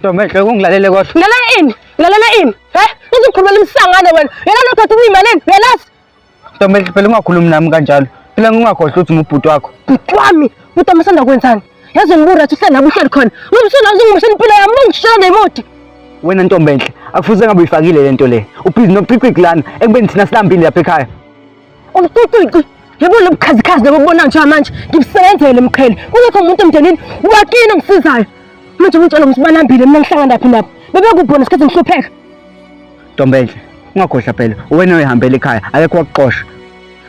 Ntombi enhle ungilalele kodwa. Lalela ini? Lalela ini? He? Uzikhulumela imsangane wena. Yena lo thatha uyimalini? Yalazi. Ntombi enhle phela ungakhulumi nami kanjalo. Phela ngingakhohlwa ukuthi umubhuti wakho. Bhuti wami, bhuti wami usanda kwenzani? Yazi ngibura ukuthi uhlala uhleli khona. Ngimsona uzingimshela impilo yami, ungishela ngemoti. Wena ntombi enhle, akufuze ngabe uyifakile lento le. Ubhizi noqiqiqi lana ekubeni thina silambile lapha ekhaya. yebo lo bukhazikhazi lobo bubona njengoba manje ngibusebenzele mqhele kungekho umuntu emndenini wakini ongisizayo manje umtshela ukuthi balambile mina ngihlangana laphi nabo bebekubona isikhathi ngihlupheka ntombenhle ungakhohlwa phela uwena oyihambela ekhaya akekho wakuxosha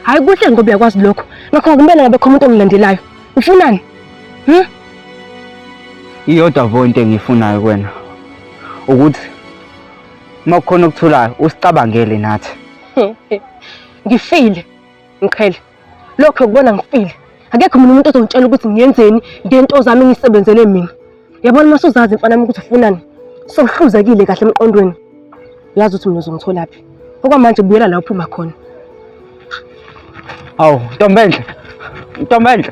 hhayi kuhle ngoba uyakwazi lokho ngakho akumele ngabe khona umuntu ongilandelayo ufunani hmm? iyodwa vo into engiyifunayo kuwena ukuthi uma kukhona okuthulayo usicabangele nathi ngifile ngiqhele lokho kubona ngifile akekho mina umuntu ozongitshela ukuthi ngiyenzeni ngento zami ngisebenzele mina yabona uma suzazi mfana wami ukuthi ufunani sohluzekile kahle emqondweni uyazi ukuthi mina uzongitholaphi okwamanje buyela la uphuma khona awu ntombenhle ntombenhle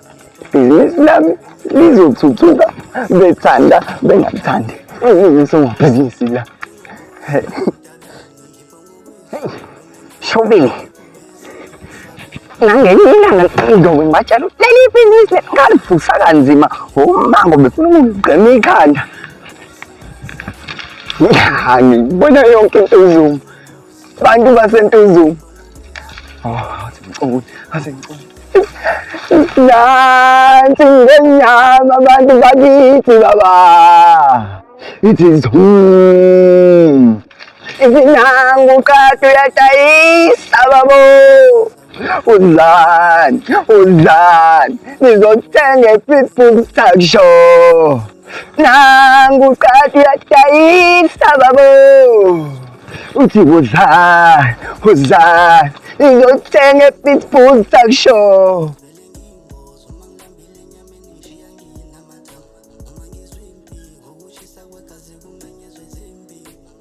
ibhizinisi lami lizothuthuka bethanda bengathandi ngingusomabhizinisi la shopping nangenye ilanga ngizobe ngibatshela ukuthi leli ibhizinisi ngalivusa kanzima umango befuna ukungigqema ikhanda ngibona yonke into izuma Bantu baseNtuzuma. Ah, ngicabanga ngaze ngicabanga. Nansi ngenyama abantu bakithi baba. It is home. Izinangu qathu yadayisa babo. Udlani, udlani, nizothenga i-pitbull talk show. Nangu qadi uyadayisa babo. Uthi udlani, udlani, nizothenga i-pitbull talk show.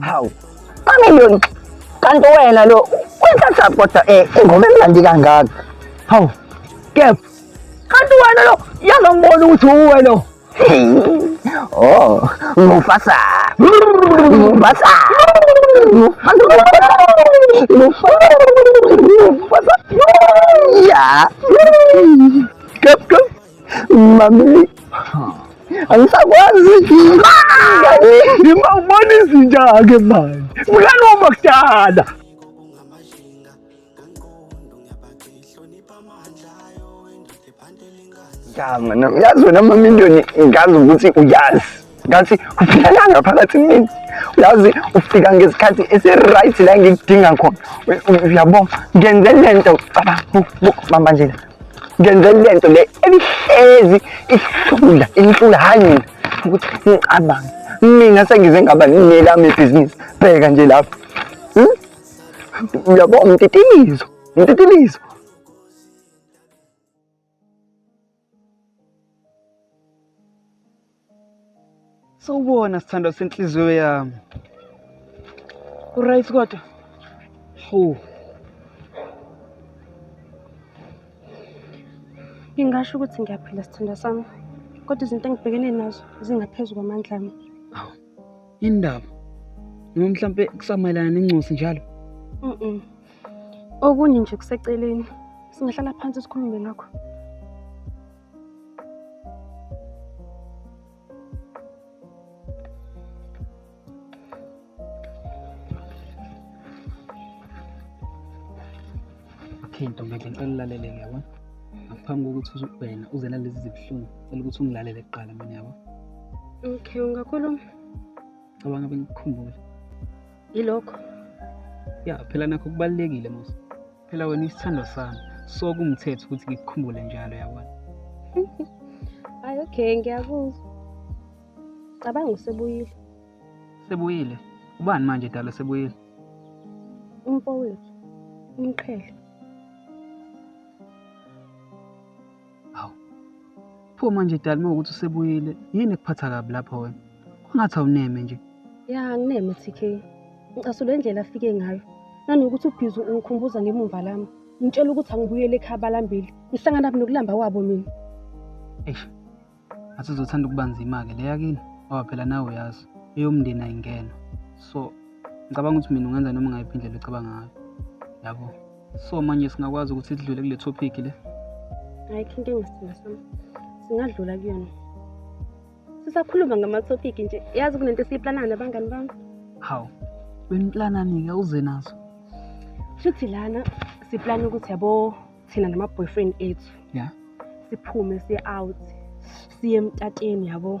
hawu bamiliyoni kanti wena lo uyithatha kodwa um eh, ingoma emnandi kangaka hawu kepha kanti wena lo yaze ngibona ukuthi uwe lo oh mufasa mufasa mufasa ya kep kep Mami. Angisakwazi ngima ubona izinja ke manje. Mngani wami kudala. Yazi wena mama into ngazi ukuthi uyazi. ngathi ufika la ngaphakathi mina uyazi ufika ngesikhathi esi-right la ngikudinga khona uyabo ngenze le nto cabanga nje ngenze le nto le ebihlezi ihlula inhlula hhayi mina ukuthi ngicabange mina sengize ngaba nelami ibhizinisi bheka nje lapho hmm? uyabo mtitilizo mtitilizo Sawubona sithandwa senhliziyo yami. Uright kodwa? Hawu. Ngingasho ukuthi ngiyaphila sithandwa sami. Kodwa izinto engibhekene nazo zingaphezu kwamandla ami. Hawu. Indaba. Noma mhlampe kusamayelana nencosi njalo. Mhm. Okunye nje kuseceleni singahlala phansi sikhulume ngakho. Okay ntombi ngicela ulalele ngiyabona. Ngaphambi kokuthi wena uze nalezi zibuhlungu, cela ukuthi ungilalele kuqala mina yabo. Okay, ungakhuluma. cabanga bengikukhumbula ilokho ya phela nakho kubalulekile musa phela wena isithandwa sami so kumthetho ukuthi ngikukhumbule njalo yabona hayi okay ngiyakuzwa cabanga usebuyile sebuyile ubani manje dala sebuyile umfowethu umqhele Hawu. Pho manje dali uma ukuthi usebuyile, yini ekuphatha kabi lapho wena? Kungathi awuneme nje. Ya ngineme TK. Ngicasule indlela afike ngayo. Nanokuthi ubhizi ungikhumbuza ngemumva lami. Ngitshela ukuthi angibuyele ekhaya balambile. Ngihlangana nokulamba kwabo mina. Eish. Athi uzothanda ukuba nzima-ke le yakini ngoba phela nawe uyazi eyomndeni ayingena. So ngicabanga ukuthi mina ungenza noma ngayiphi indlela ocabanga ngayo. Yabo. so manje singakwazi ukuthi sidlule kule topic le ayikho into engasidinga sami singadlula kuyona sisakhuluma ngama-topic nje yazi kunento esiyiplanayo nabangani bami hawu beniplanani-ke uze nazo shuthi lana siplana ukuthi yabo thina nama-boyfriend ethu ya siphume siye out siye emtateni yabo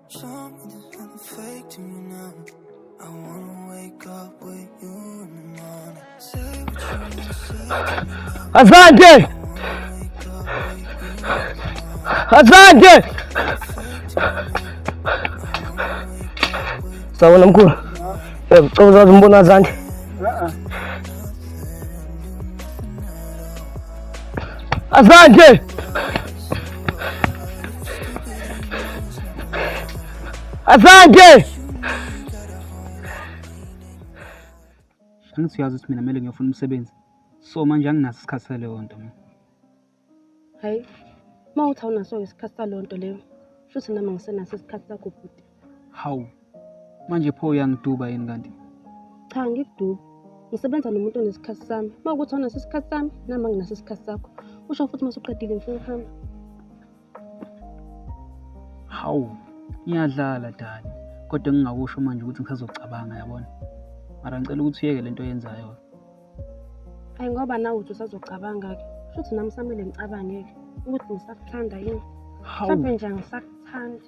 Asante, asante. Sawona mkhulu, uyakucoza umbona asante. Asante. Asante. Angisiyazi ukuthi mina kumele ngiyofuna umsebenzi. So manje anginaso isikhathi saleyo nto mina. Hayi. Uma uthi awunaso isikhathi saleyo nto leyo, futhi nami angisenaso isikhathi sakho bhuti. Hawu, manje pho uyangiduba yini kanti? Cha ngikudubi. Ngisebenza nomuntu onesikhathi sami. Uma ukuthi awunaso isikhathi sami, nami anginaso isikhathi sakho. Usho futhi uma usuqedile ngifuna ukuhamba. Hawu, ngiyadlala Dani. Kodwa engingakusho manje ukuthi ngisazocabanga yabona. Mara ngicela ukuthi uyeke le nto oyenzayo. Ayi ngoba nawe uthi usazocabanga-ke. Shuthi nami samele ngicabange-ke ukuthi ngisakuthanda yini. Hawu, Mhlawumbe nje angisakuthandi.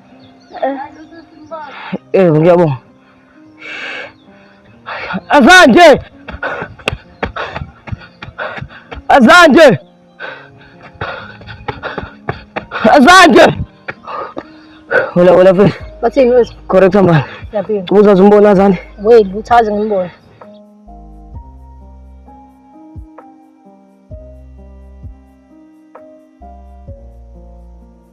Eh, ngiyabonga. Azande! Azande! Azande! Hola, hola, fe. Bathini wethu? Correct manje. Ngiyaphila. Ubuza umbona azande. Wait, uthazi ngimbona.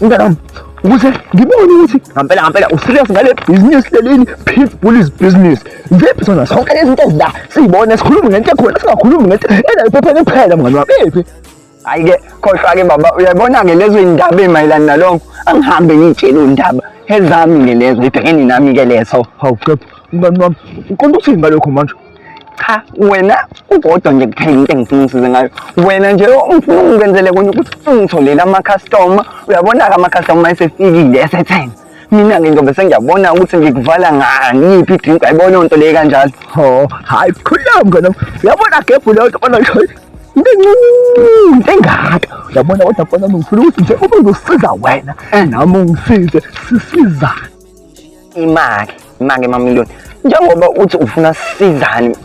Mntanami, ukuze ngibone ukuthi ngampela ngampela userious ngale business lelini pit bullies business ziphi zona zonke lezi zinto ezila siyibona sikhuluma ngento ekhona singakhulumi ngento ena iphepheni kuphela mngani wami iphi ayike khohlwa-ke baba uyabona-ke lezo iy'ndaba ey'mayelana nalonko angihambe ngiyitshele undaba ezami-ke lezo ibhekene nami-ke lezo hawu qepha mngani wami uqonda ukuthini ngalokho manje cha wena ukodwa nje kuphela into engifuna ungisize ngayo wena nje ungifuna ungenzele konye ukuthi ungitholele amakhastoma uyabona-ke amakhastoma esefikile esethenga mina-ke ngizobe sengiyabona ukuthi ngikuvala ngani iphi idrink ayibona onto leyi kanjalo o hayi khulula mngane uyabona gebhu leyo nto bona into encinci engaka uyabona kodwa bona ngifuna ukuthi nje ube uzosiza wena eh. nami ungisize sisizane imake imake mamiliyoni njengoba uthi ufuna sizane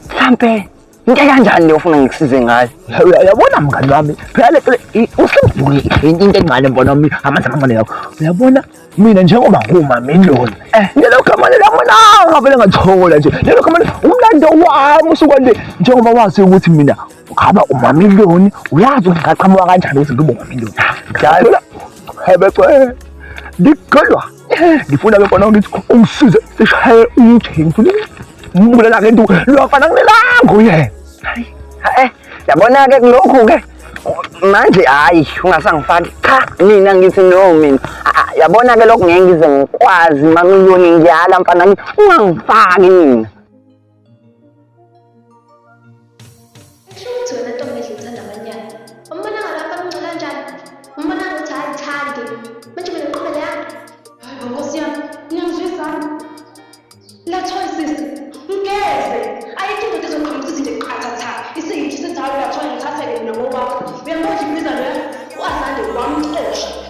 mhlampe into kanjani leyo ufuna ngikusize ngayo uyabona mngani wami phela usembhuli into encane mbona wami amanzi amancane lawo uyabona mina njengoba ngumamiliyoni eh. lelo gama lelamonanga vele ngathola nje lelo gama umlando wami usukwande njengoba wazi ukuthi mina Ungaba umamiliyoni uyazi ukuthi ngaqhamuka kanjani ukuthi ngibe umamiliyoni. Ngiyacela ebecela ngikholwa ngifuna ke kona ngithi ungisize sishaye umjeni ngifuna umbulala ke nto lwafana kunelanga uyena. Hayi. Eh yabona ke kulokhu ke manje hayi ungasangifaki cha mina ngithi no mina ah, ah, yabona ke lokhu ngeke ngize ngikwazi mamiliyoni ngiyala mfana ungangifaki mina Kusho wena ntombi edla uthanda abanyana. Umbona ngalapha kumncu kanjani? Umbona ukuthi hayi thandi. Manje mina ngiqhubele yami. Hayi bo nkosi yami, ngiyangizwisana. Lathwa sisi, ngeze. Ayikho indoda ezoqhamuka ukuthi izinto eqhatha tha. Isiyithu senzayo lathwa ngithatheke mina ngokwakho. Uyambona nje ibizana yakho? Wazande wamxosha.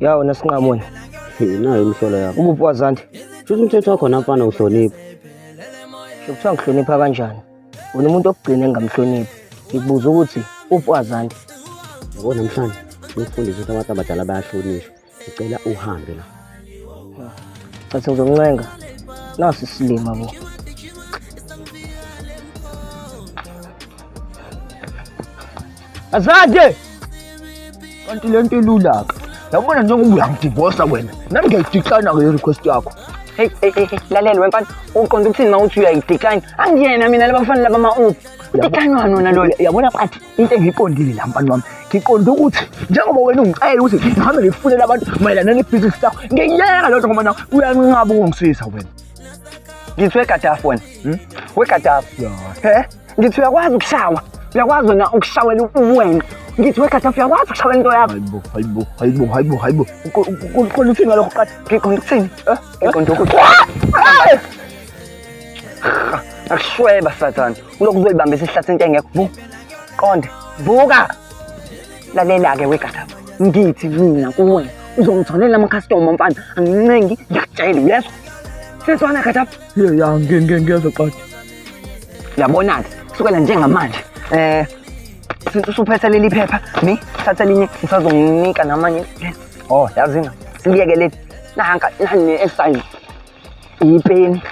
yawo nasinqamona nayo imihlola yakho ukuphi wazanti shuthi umthetho wakhona mfana uhlonipha kuthiwa ngihlonipha kanjani wena umuntu okugcina engingamhloniphi ngikubuza ukuthi uphi wazanti yabo namhlanje ngikufundisa ukuthi abantu abadala bayahlonishwa ngicela uhambe la cathi ngizomncenga nasi isilima bo Azade. Kanti le nto ilula ke. Yabona njengoba uyangidivosa wena. Nami ngiyayidixana ke request yakho. Hey hey hey lalela wemfana uqonda ukuthini mawuthi uyayidecline angiyena mina labafana laba ma uphi udecline wani wona loyo yabona bathi into engiyiqondile la mfana wami ngiqonda ukuthi njengoba wena ungicela ukuthi ngihambe ngifunele abantu mayelana nebhizinisi lakho ngiyeka loo nto ngoba nawe uyanqaba ukungisiza wena ngithiwe gadaf wena hmm? we gadaf he ngithi uyakwazi ukushawa uyakwazi wena ukushawela uwena ngithi we gadaf uyakwazi ukushawela into yakho hayibo hayibo hayibo hayibo kukhona uthini ngalokho qatha ngiqonda ukuthini eh? ngiqonda ukuthi akushweba sathane ulokhu uzoyibambisa isihlathi into engekho qonde vuka lalela-ke wegadaba ngithi mina kuwena uzongitholela amakhastoma mfana angincengi ngiyakutshela uyezwa seswana gadaba ya ngiyeza qadi yabona-ke kusukela njengamanje um since usuphethe leli phepha mi thatha elinye ngisazonginika namanye o oh, yazina siliyeke leli nanka nani esisayizi ipeni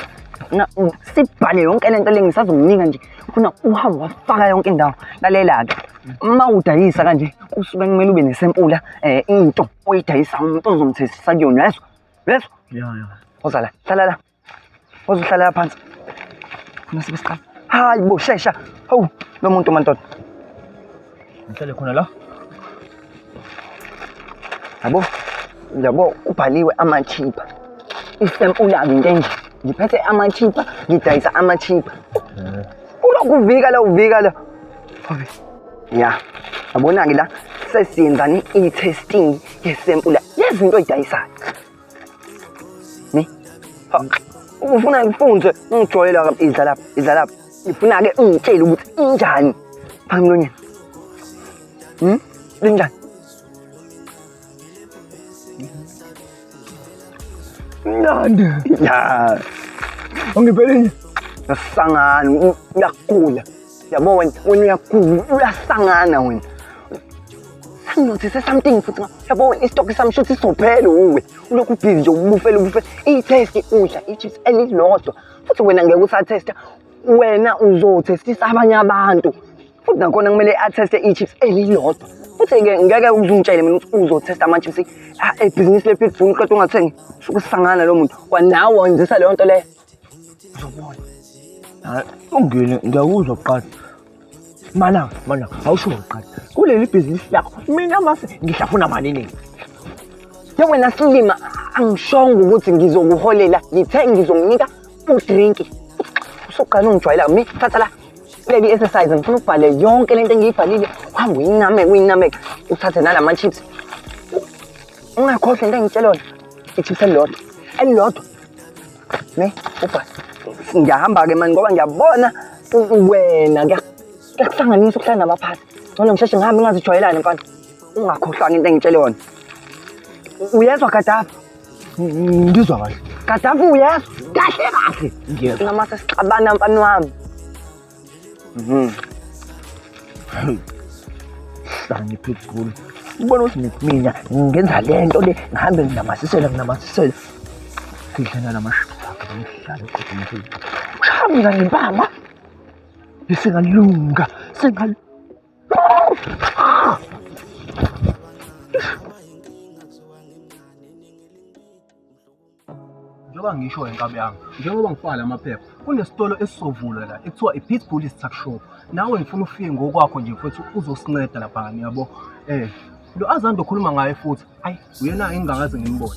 na sibhale yonke lento le ngisazokunika nje funa uhambe wafaka yonke indawo lalela-ke uma udayisa kanje kusuke kumele ube nesempula eh into oyidayisa umuntu ozomthethisa kuyona yezwa yezwa ya ya oza la hlala la ozohlala la phansi funa sibe siqala hayi bo shesha hawu lo muntu mantoda Ngihlale khona la. Yabo, yabo kubhaliwe amachipa. Isempula into enje. Ngiphethe amachipa, ngidayisa amachipa. Eh. Kulokhu vika la uvika la. Ya. Yabona-ke la sesiyenzani i-testing yesempula yezinto oyidayisayo. Ne? Ufuna ngifunze ngijwayele la idla lapha, idla lapha. Ngifuna ke ungitshele ukuthi injani. Phanga mlonyeni. Hmm? Linjani? Mnandi. Ya. Ungiphelile. Nasangani, uyagula. yabo wena wena uyaguza uyahlangana wena sanginothise something futhi yabo wena isitoki sami shuthi sizophele uwe ulokhu ubhizi nje ubufele ubufele iyithesti udla ichips elilodwa futhi wena ngeke usathesta wena uzothestisa abanye abantu futhi nakhona kumele atheste ichips elilodwa futhi-ke ngeke uzungitshele mina ukuthi uzothesta ama-chips ebhizinisi lepitbull qeda ungathengi suke usangana lo muntu kwanawe wenzisa leyo nto leyo Ngizokubona. Hayi, ungene ngiyakuzwa kuqala. Mana, mana, awusho kuqala. Kuleli bhizinisi lakho mina mase ngihlafuna malini? Yo wena silima angishongo ukuthi ngizokuholela ngithe ngizomnika udrink. Usuqala ungijwayela mi thatha la. Leli exercise ngifuna ubhale yonke lento engiyibhalile. Hamba uyiname uyiname uthathe nalama chips. Ungakhohlwa into engitshelona. Ichips elilodwa. Elilodwa. Ne? Uba. Ngiyahamba ke manje ngoba ngiyabona wena kuyakuhlanganisa ukuhlala nabaphathi. Ngcono ngisheshe ngihambe ngingazijwayelani mfana. Ungakhohlwanga into engitshele yona. Uyezwa Gaddafi? Ngizwa kahle. Gaddafi uyezwa? Kahle kahle. Ngiyezwa. Namase sixabana mfana wami. Mhm. Hey. Sani phezulu. Ubona ukuthi mina ngenza le nto le ngihambe nginamathisela nginamathisela. Sidlana namashaka ngidlala eqhubeni phezulu. Shaya mina ngempama. Isingalunga, singal njengoba ngisho wenkabi yami njengoba ngifaka la maphepha kunesitolo esizovulwa la ekuthiwa i-pitbull tuck shop nawe ngifuna ufike ngokwakho nje futhi uzosinceda lapha ngani yabo um lo azanto okhuluma ngaye futhi ayi uyena engingakaze ngimbone